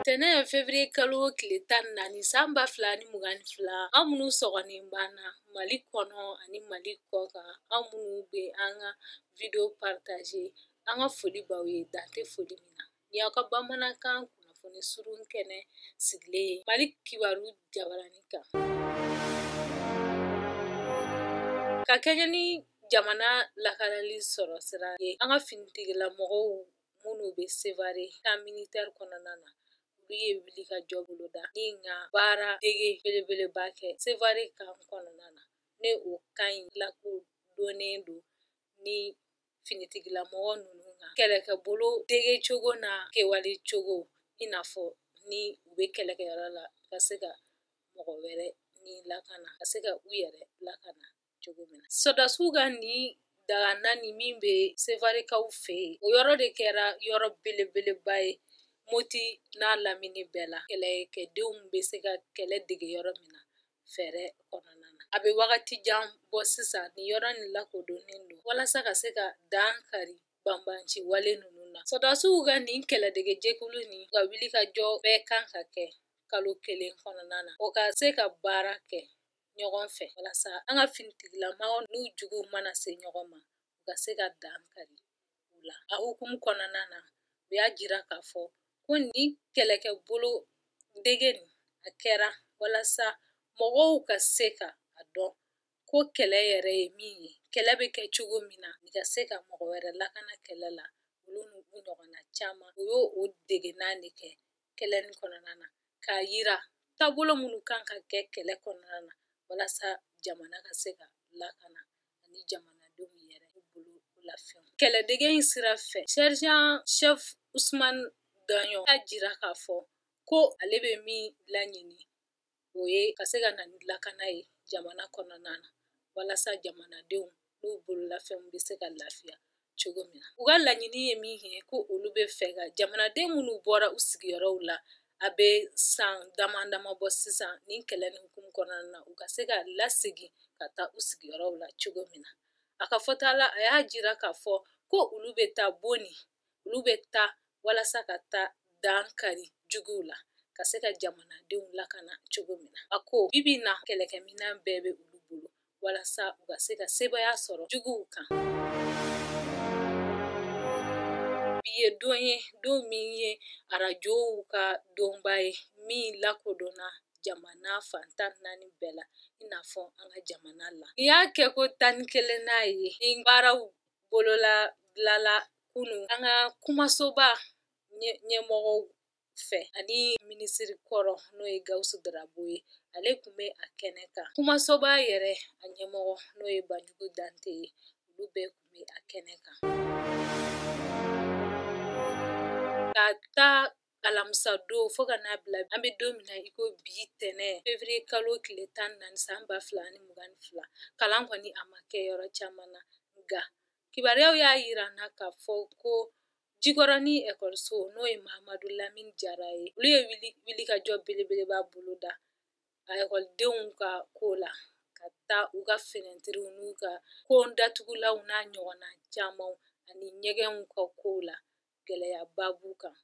Tɛnɛn février kalo tile tan naani san ba fila ni mugan fila aw minnu sɔgɔlen b'an na mali kɔnɔ ani mali kɔkan aw minnu bɛ an ka video partager an ka foli b'aw ye dan tɛ foli min na ni aw ka bamanankan kunnafoni surun kɛnɛ sigilen ye mali kibaru jabaranin kan ka kɛ jamana lakanali sɔrɔ sira ye an ka finitigila mɔgɔw minnu bɛ sevare camp militaire kɔnɔna na olu ye wulikajɔ boloda ni ka baara dege belebeleba kɛ sevare camp kɔnɔna na ni o camp in lakodɔnnen don ni finitigila mɔgɔ ninnu ka kɛlɛkɛbolo dege cogo na kɛwale cogo i n'a fɔ ni u bɛ kɛlɛkɛyɔrɔ la ka se ka mɔgɔ wɛrɛ ni lakana ka se ka u yɛrɛ lakana cogo min na sɔdasiw ka nin daga nin min bɛ sevarekaw fɛ yen o yɔrɔ de kɛra yɔrɔ belebeleba ye moti n'a lamini bɛɛ la kɛlɛkɛdenw bɛ se ka kɛlɛ dege yɔrɔ min na fɛɛrɛ kɔnɔna na a bɛ wagati jan bɔ sisan ni yɔrɔ nin lakodɔnnen don walasa ka se ka dan kari banbanci wale ninnu na sɔdasiw ka nin kɛlɛdege jɛkulu nin ka wulikajɔ bɛɛ kan ka kɛ kalo kelen kɔnɔna na o ka se ka baara kɛ ɲɔgɔn fɛ walasa an ka finitigilamaaw n'u juguw mana se ɲɔgɔn ma u ka se ka dan kari u la a hukumu kɔnɔna na u y'a jira k'a fɔ ko nin kɛlɛkɛ bolo dege nin a kɛra walasa mɔgɔw ka se ka a dɔn ko kɛlɛ yɛrɛ ye min ye kɛlɛ bɛ kɛ cogo min na i ka se ka mɔgɔ wɛrɛ lakana kɛlɛ la olu n'u ɲɔgɔnna caman u y'o dege nin de kɛ kɛlɛ nin kɔnɔna na k'a yira taabolo minnu kan ka kɛ kɛlɛ kɔnɔna na walasa jamana ka se ka lakana ani jamanadenw yɛrɛ bololafɛn kɛlɛdege in sira fɛ sergent chef Ousmane Daɲɔn y'a jira k'a fɔ ko ale bɛ min laɲini o ye ka se ka na ni lakana ye jamana kɔnɔna na walasa jamanadenw n'u bololafɛnw bɛ se ka lafiya cogo min na u ka laɲini ye min ye ko olu bɛ fɛ ka jamanaden minnu bɔra u sigiyɔrɔw la a bɛ san dama dama bɔ sisan nin kɛlɛ nin hukumu kɔnɔna na u ka se ka lasegin ka taa u sigiyɔrɔw la cogo min na a ka fɔta la a y'a jira k'a fɔ ko olu bɛ taa Boni olu bɛ taa walasa ka taa dan kari juguw la ka se ka jamanadenw lakana cogo min na a ko bi bi na kɛlɛkɛminɛn bɛɛ bɛ olu bolo walasa u ka se ka sebaaya sɔrɔ juguw kan bi ye don ye don min ye arajow ka donba ye min lakodɔnna jamana fan tan naani bɛɛ la i n'a fɔ an ka jamana la nin y'a kɛko tan ni kelennan ye ni baaraw bolola bilala kunu an ka kumasoba ɲɛmɔgɔw fɛ ani minisiri kɔrɔ n'o ye gawusu darabo ye ale tun bɛ a kɛnɛ kan kumasoba yɛrɛ a ɲɛmɔgɔ n'o ye banjugu dante ye olu bɛɛ tun bɛ a kɛnɛ kan k'a ta alamisa don fo ka n'a bila an bɛ don min na i ko bi tɛnɛn fevriye kalo tile tan ni naani san ba fila ni mugan ni fila kalan kɔni a ma kɛ yɔrɔ caman na nka kibaruyaw y'a yira n na k'a fɔ ko jikɔrɔni ekɔliso n'o ye mahamadu lamini jara ye olu ye wilikajɔ belebeleba boloda a ekɔlidenw ka ko la k'a ta u ka finɛtiriw n'u ka kon datugulanw n'a ɲɔgɔnna camanw ani ɲɛgɛnw ka kow la gɛlɛyaba b'u kan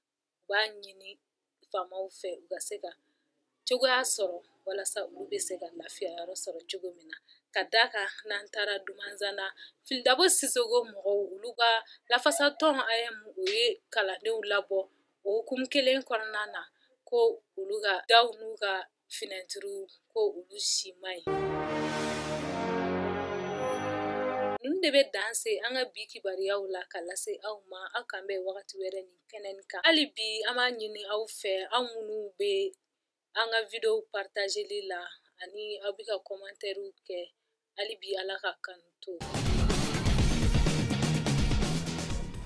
u b'a ɲini faamaw fɛ u ka se ka cogoya sɔrɔ walasa olu bɛ se ka lafiya yɔrɔ sɔrɔ cogo min na ka d'a kan n'an taara dumanzana filidabo sisoko mɔgɔw olu ka lafasatɔn aeem o ye kalandenw labɔ o hukumu kelen kɔnɔna na ko olu ka daw n'u ka finɛtiriw ko olu si man ɲi ninnu de bɛ dan se an ka bi kibaruyaw la ka lase aw ma aw k'an bɛn wagati wɛrɛ nin kɛnɛ nin kan hali bi an b'a ɲini aw fɛ aw minnu bɛ an ka videow partageli la ani aw bɛ ka kɔmantɛriw kɛ hali bi ala ka kanu to